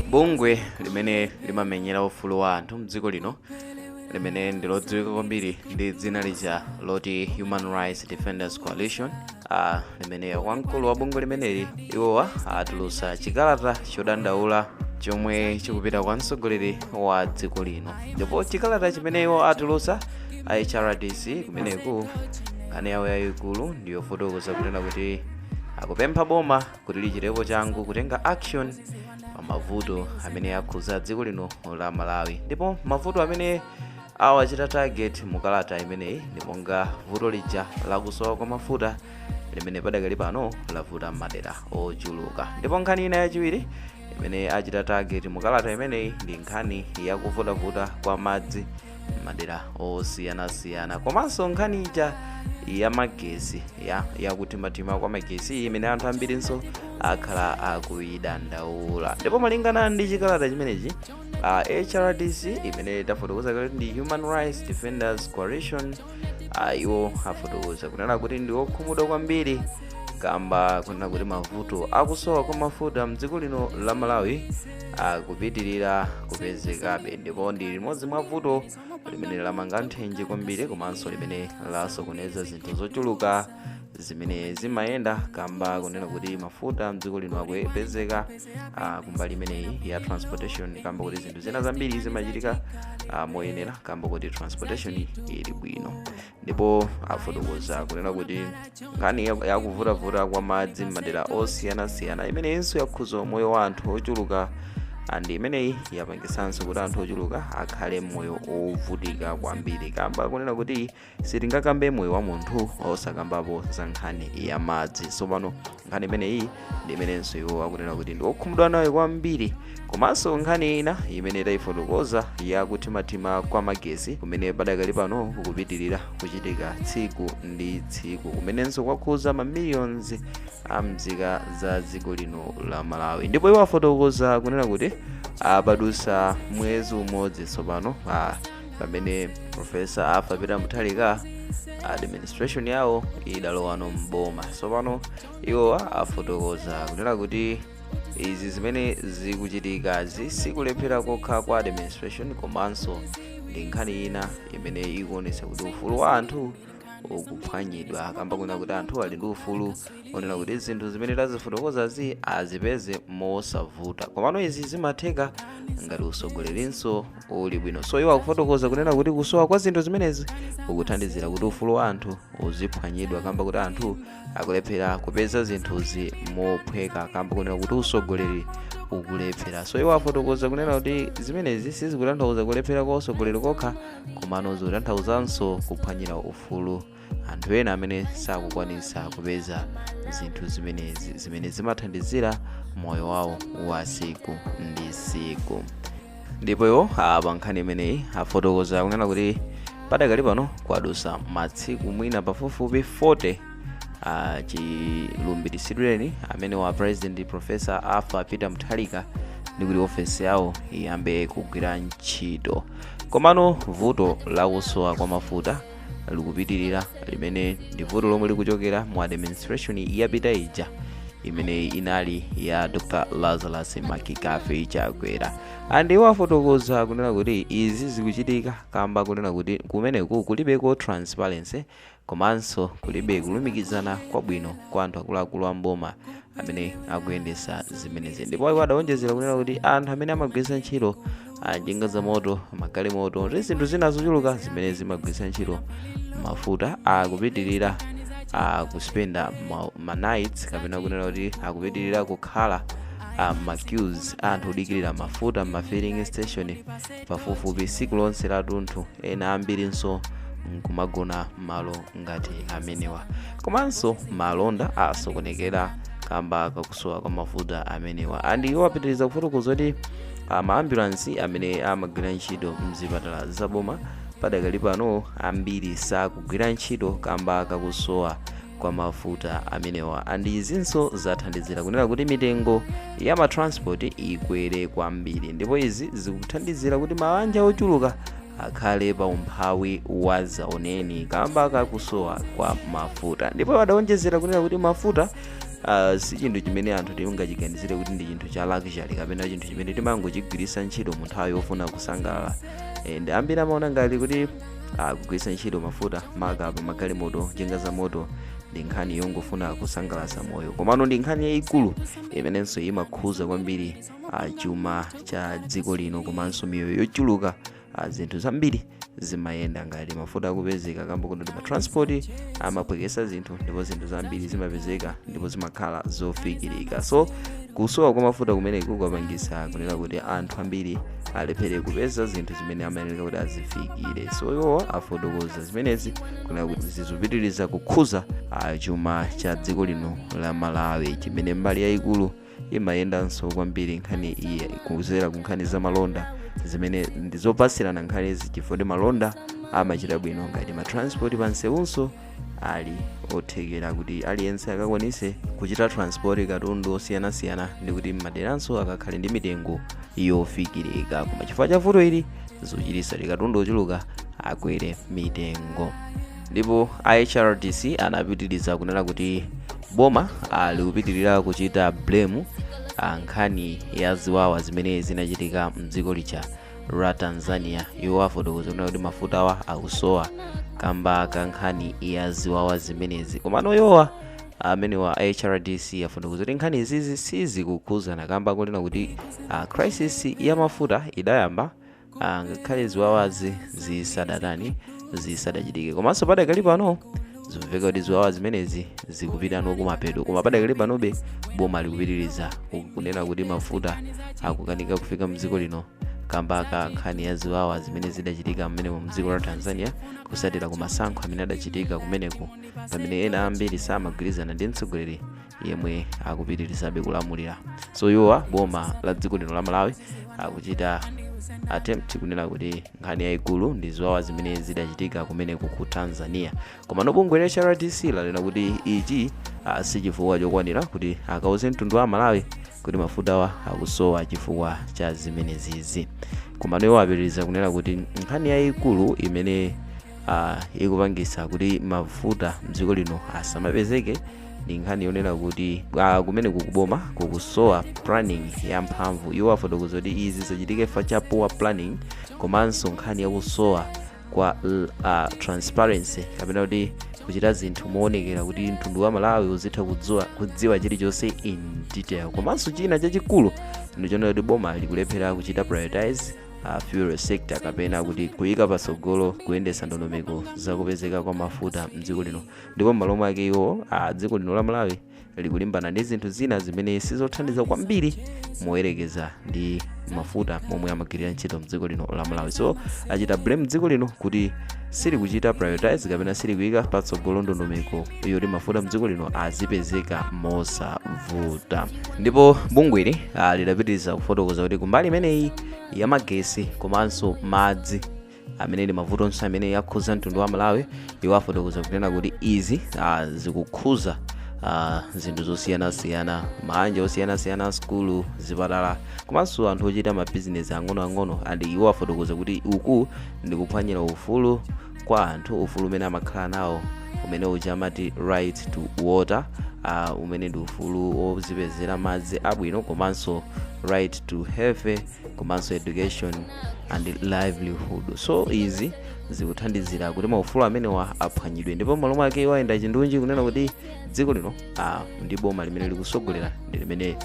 Bungwe limene limamenyera ufulu wa anthu mdziko lino limene ndi lodziwika kwambiri ndi dzina lija loti Human Rights Defenders Coalition uh, limene wamkulu wa bungwe limeneli iwowa atulutsa chikalata chodandaula chomwe chikupita kwa mtsogoleri wa dziko lino ndipo chikalata chimene iwo atulutsa a HRDC kumeneku nkhani yawo yayikulu ndiyofotokoza kunena kuti akupempha boma kuti lichitepo changu kutenga action pa mavuto amene akhuza dziko lino la Malawi ndipo mavuto amene awachita target mu kalata imeneyi ndi monga vuto lija lakusowa kwa mafuta limene padakali pano lavuta m'madera ochuluka ndipo nkhani ina yachiwiri imene achita target mu kalata imeneyi ndi nkhani yakuvutavuta kwa madzi madera osiyanasiyana komanso nkhani ija ya magesi ya yakuthimathima kwa magesi imene anthu ambirinso akhala akuyidandaula ndipo malingana ndi chikalata chimenechi uh, HRDC imene tafotokoza kuti ndi Human Rights Defenders Coalition uh, iwo afotokoza kunena kuti ndi okhumudwa kwambiri kamba kunena kuti mavuto akusowa kwa mafuta mdziko lino la Malawi akupitirira kupezekabe ndipo ndi limodzi mwa vuto limene lamanga nthenje kwambiri komanso limene lasokoneza zinthu zochuluka zimene zimayenda kamba kunena kuti mafuta mdziko lino akupezeka ah, kumbali imeneyi ya transportation kamba kuti zinthu zina zambiri zimachitika ah, moyenera kamba kuti transportation ili bwino ndipo afotokoza kunena kuti nkhani ya- yakuvutavuta kwa madzi m'madera osiyanasiyana imeneyinso yakhuza moyo wa anthu ochuluka and imeneyi yapangisanso kuti anthu ochuluka akhale moyo ovutika kwambiri kamba kunena kuti sitingakambe moyo wa munthu osakambapo za nkhani ya madzi tsopano nkhani imeneyi ndi imenenso iwo akunena kuti ndi okhumudwa nayo kwambiri komanso nkhani ina imene tayifotokoza yakuthimathima kwa magesi kumene padakali pano kukupitirira kuchitika tsiku ndi tsiku kumenenso kwakhuza mamiliyonzi a mzika za dziko lino la Malawi ndipo iwo afotokoza kunena kuti padutsa mwezi umodzi tsopano ah, pamene Profesa Arthur Peter Mutharika administration yawo idalowano mboma tsopano iwo afotokoza kunena kuti izi zimene zikuchitikazi sikulephera kokha kwa administration komanso ndi nkhani ina imene ikuonetsa kuti ufulu wa anthu ukuphwanyidwa kamba kunena kuti anthu ali ndi ufulu onena kuti zinthu zimene tazifotokozazi azipeze mosavuta komano izi zimatheka ngati utsogolerinso uli bwino so iwo akufotokoza kunena kuti kusowa kwa zinthu zimenezi kukuthandizira kuti ufulu wa anthu uziphwanyidwa kamba kuti anthu akulephera kupeza zinthuzi mophweka kamba kunena kuti usogoleri ukulephera so iwo afotokoza kunena kuti zimenezi sizikutanthauza kulephera kwa usogoleri kokha komano zikutanthauzanso kuphwanyira ufulu anthu ena amene sakukwanisa kupeza zinthu zimenezi zimene zimathandizira moyo wawo wa siku ndi siku ndipo iwo pa nkhani imeneyi afotokoza kunena kuti padakali pano kwadusa masiku mwina pafupifupi 40 uh, chilumbiritsidwireni amene wa president professor arthur peter mutharika ndi kuti ofesi yawo iyambe kugwira ntchito komano vuto lakusowa kwa mafuta likupitirira limene ndi vuto lomwe likuchokera mu administration yapita ija imene inali ya dr lazarus mccarthy chakwera and iwo afotokoza kunena kuti izi zikuchitika kamba kunena kuti kumeneku kulibeko transparency komanso kulibe kulumikizana kwabwino kwa anthu akuluakulu a mboma amene akuyendesa zimenezi ndipo iwo adawonjezera kunena kuti anthu amene amagwiritsa ntchito ah, njinga za moto magalimoto ndi zinthu zina zochuluka zimene zimagwiritsa ntchito mafuta akupitirira ah, kuspenda ma- ma nights kapena kunena kuti akupitirira kukhala ah, ma queues a anthu odikirira mafuta mma filling station pafupifupi tsiku lonse latunthu ena ambirinso nkumagona mmalo ngati amenewa komanso malonda asokonekera kamba kakusowa kwa mafuta amenewa and iwo apitiriza kufotokoza kuti maambulansi amene amagwira ntchito mzipatala zaboma padakali pano ambiri sakugwira ntchito kamba kakusowa kwa mafuta amenewa and izinso zathandizira kunena kuti mitengo ya matransport ikwere kwambiri ndipo izi zikuthandizira kuti mabanja ochuluka akhale pa umphawi wazaoneni kamba kakusowa kwa mafuta ndipo adawonjezera kunena kuti mafuta uh, si chinthu chimene anthu tingachiganizire kuti ndi chinthu cha luxury kapena chinthu chimene timangochigwiritsa ntchito mu nthawi yofuna kusangalala and ambiri amaona ngati kuti ah, kugwiritsa ntchito mafuta maka pa magalimoto njinga za moto ndi nkhani yongofuna kusangalatsa moyo komano ndi nkhani yayikulu imenenso imakhuza kwambiri ah, chuma cha dziko lino komanso miyoyo yochuluka ah, zinthu zambiri zimayenda ngati mafuta akupezeka kamba kuti matransport amaphwekesa zinthu ndipo zinthu zambiri zimapezeka ndipo zimakhala zofikirika so kusowa kwa mafuta kumeneku kwapangisa kunena kuti anthu ambiri alephere kupeza zinthu zimene amayenera kuti azifikire so iwo afotokoza zimenezi kunena kuti zikupitiriza kukhuza ah, chuma cha dziko lino la malawi chimene mbali yayikulu imayendanso kwambiri nkhani iyi kudzera ku nkhani za malonda zimene ndi zopatsirana nkhanizi chifukwa kuti malonda amachita bwino ngati matransport pansewunso ali othekera kuti aliyense akakwanise kuchita transport katundu osiyanasiyana ndikuti mmaderanso akakhale ndi mitengo yofikirika koma chifukwa cha vuto ili zikuchititsa kuti katundu ochuluka akwere mitengo ndipo a hrdc anapitiriza kunena kuti boma likupitirira kuchita blame ah, nkhani ya ziwawa zimene zinachitika mdziko lija la tanzania iwo afotokoza kunena kuti mafutawa akusowa kamba ka nkhani ya ziwawa zimenezi komano iwowa amenewa a hrdc afotokoza kuti nkhani izizi sizikukhudzana kamba kunena kuti ah, crisis ya mafuta idayamba ah, ngakhale ziwawazi zisadatani zisadachitike komanso padakali pano zikumveka kuti ziwawa zimenezi zikupitano kumapeto koma padakali panobe boma likupitiriza kunena kuti mafuta akukanika kufika mdziko lino kamba ka nkhani ya ziwawa zimene zidachitika mmenemo mdziko la tanzania kutsatira ku masankho amene adachitika kumeneko pamene ena ambiri samagwirizana ndi mtsogoleri yemwe akupitirizabe kulamulira so iwowa boma la dziko lino la malawi akuchita attempt kunena kuti nkhani yayikulu ndi ziwawa zimene zidachitika kumeneko ku tanzania komano bungwe la hrdc lanena kuti ichi ah, si chifukwa chokwanira kuti akauze mtundu wa malawi kuti mafutawa akusowa chifukwa cha zimenezizi koma iwo apitiriza kunena kuti nkhani yayikulu imene ah, ikupangisa kuti mafuta mdziko lino asamapezeke ndi nkhani yonena kuti ah, kumeneku ku boma kukusowa planning yamphamvu iwo afotokoza kuti izi zachitika chifukwa cha poor planning komanso nkhani yakusowa kwa l- ah, transparency kapena kuti kuchita zinthu moonekera kuti mtundu wa malawi uzitha kudziwa chilichonse in detail komanso china chachikulu ndichonena kuti boma likulephera kuchita prioritize uh, fuel sector kapena kuti kuyika patsogolo kuyendetsa ndondomeko zakupezeka kwa mafuta mdziko lino ndipo m'malo mwake iwo a dziko lino la malawi likulimbana ndi zinthu zina zimene sizothandiza kwambiri moyerekeza ndi mafuta momwe amagwirira ntchito mdziko lino la malawi so achita blame dziko lino kuti silikuchita prioritize kapena silikuyika patsogolo ndondomeko yoti mafuta mdziko lino azipezeka mosavuta ndipo bungweli ah, lidapitiriza kufotokoza kuti kumbali imeneyi ya magetsi komanso madzi amene ndi mavuto onse amene akhuza mtundu wa malawi iwo afotokoza kunena kuti izi ah, zikukhuza ah, zinthu zosiyanasiyana maanja osiyanasiyana sukulu zipatala komanso anthu ochita mabizinesi ang'onoang'ono and iwo afotokoza kuti uku ndi kuphwanyira ufulu kwa anthu ufulu umene amakhala nawo umene uja amati right to water uh, umene ndi ufulu wozipezera madzi abwino komanso right to health komanso education and livelihood so izi zikuthandizira kuti maufulu amenewa aphwanyidwe ndipo malo mwake iwo ayenda chindunji kunena kuti dziko lino ah, ndi boma limene likusogolera ndi limene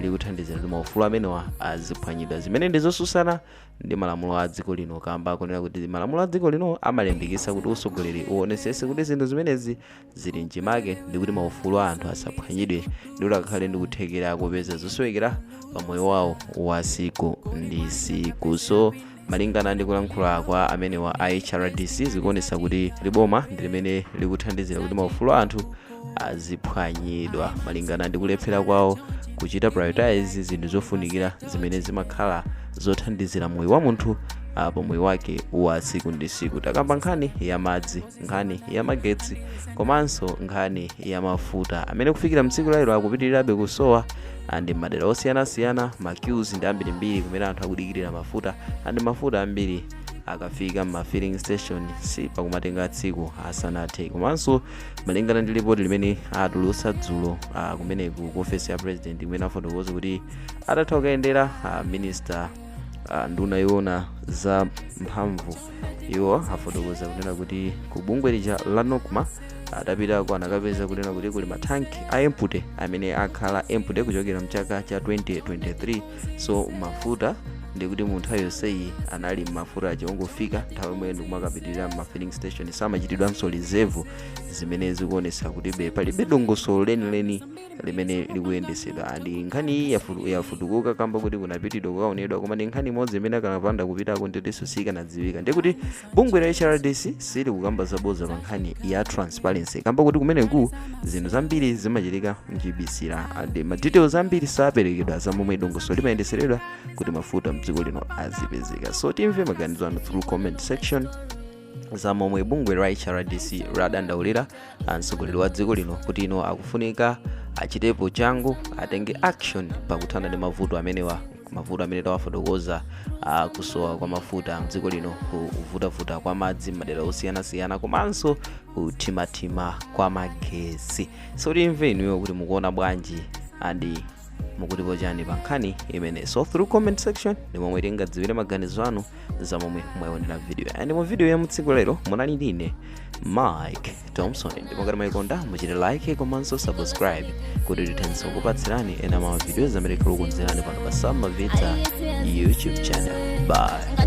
likuthandizira kuti maufulu amenewa aziphwanyidwa zimene ndi zosusana ndi malamulo a dziko lino kamba akunena kuti malamulo a dziko lino amalimbikitsa kuti usogoleri uonesese kuti zinthu zimenezi zili mchimake ndikuti maufulu a anthu asaphwanyidwe ndikuti akakhale ndi kuthekera kopeza zosowekera pa moyo wawo wa siku ndi siku so malingana ndi kulankhula kwa amenewa a hrdc zikuonesa kuti liboma ndi limene likuthandizira kuti maufulu a anthu aziphwanyidwa malingana ndi kulephera kwawo kuchita prioritize zinthu zofunikira zimene zimakhala zothandizira moyo wa munthu ah, pa moyo wake wa siku ndi siku takamba nkhani ya madzi nkhani ya magetsi komanso nkhani ya mafuta amene kufikira mtsiku la lero akupitirirabe kusowa andi madera osiyanasiyana maqueues ndi ambirimbiri kumene anthu akudikirira mafuta andi mafuta ambiri akafika mma filling station sipakumatenga tsiku asanathe komanso malingana ndi lipoti limene atulutsa dzulo ah, kumeneku ku ofesi ya president imene afotokoza kuti atatha kukayendera ah, minister ah, nduna yoona za mphamvu iwo afotokoza kunena kuti ku bungwe lija la nocma atapitako anakapeza kunena kuti kuli mathanki a empty amene akhala empty kuchokera mchaka cha 2023 so mafuta ndikuti mu nthawi yonseyi anali mafuta aja ongofika nthawi yomwe ndikumakapitirira mma filling station samachitidwanso reserve zimene zikuonesa kutibe palibe dongosolo lenileni limene likuyendetsedwa ndi nkhani iyi yafu- yafutukuka kamba kuti kunapitidwa kukaonedwa koma ndi nkhani imodzi imene akanapanda kupitako nditiso sikanadziwika ndiye kuti bungwe la hrdc silikukamba zaboza pa nkhani ya transparency kamba kuti kumeneku zinthu zambiri zimachitika mchibisira andi ma details ambiri saperekedwa za momwe dongosolo limayendeseredwa kuti mafuta mdziko lino azipezeka so timve maganizo anu through comment section za momwe bungwe la hrdc ladandaulira mtsogoleri wa dziko lino kuti iwo akufunika achitepo changu atenge action pakuthana ndi mavuto amene tawafotokoza uh, kusowa kwa mafuta mdziko lino kuvutavuta kwa madzi m'madera osiyanasiyana komanso kuthimathima kwa magesi so timve inuyo kuti mukuona bwanji andi mukutipo chani pa nkhani imeneyi so through comment section ndi momwe tingadziwire maganizo anu za momwe mwaionera video and mu video ya mutsiku lero munali ndine mike thompson ndipo ngati mwayikonda muchite like komanso subscribe kuti tithenso kupatsirani ena ma videos amene tikukonzerani pano pa sama vita youtube channel bye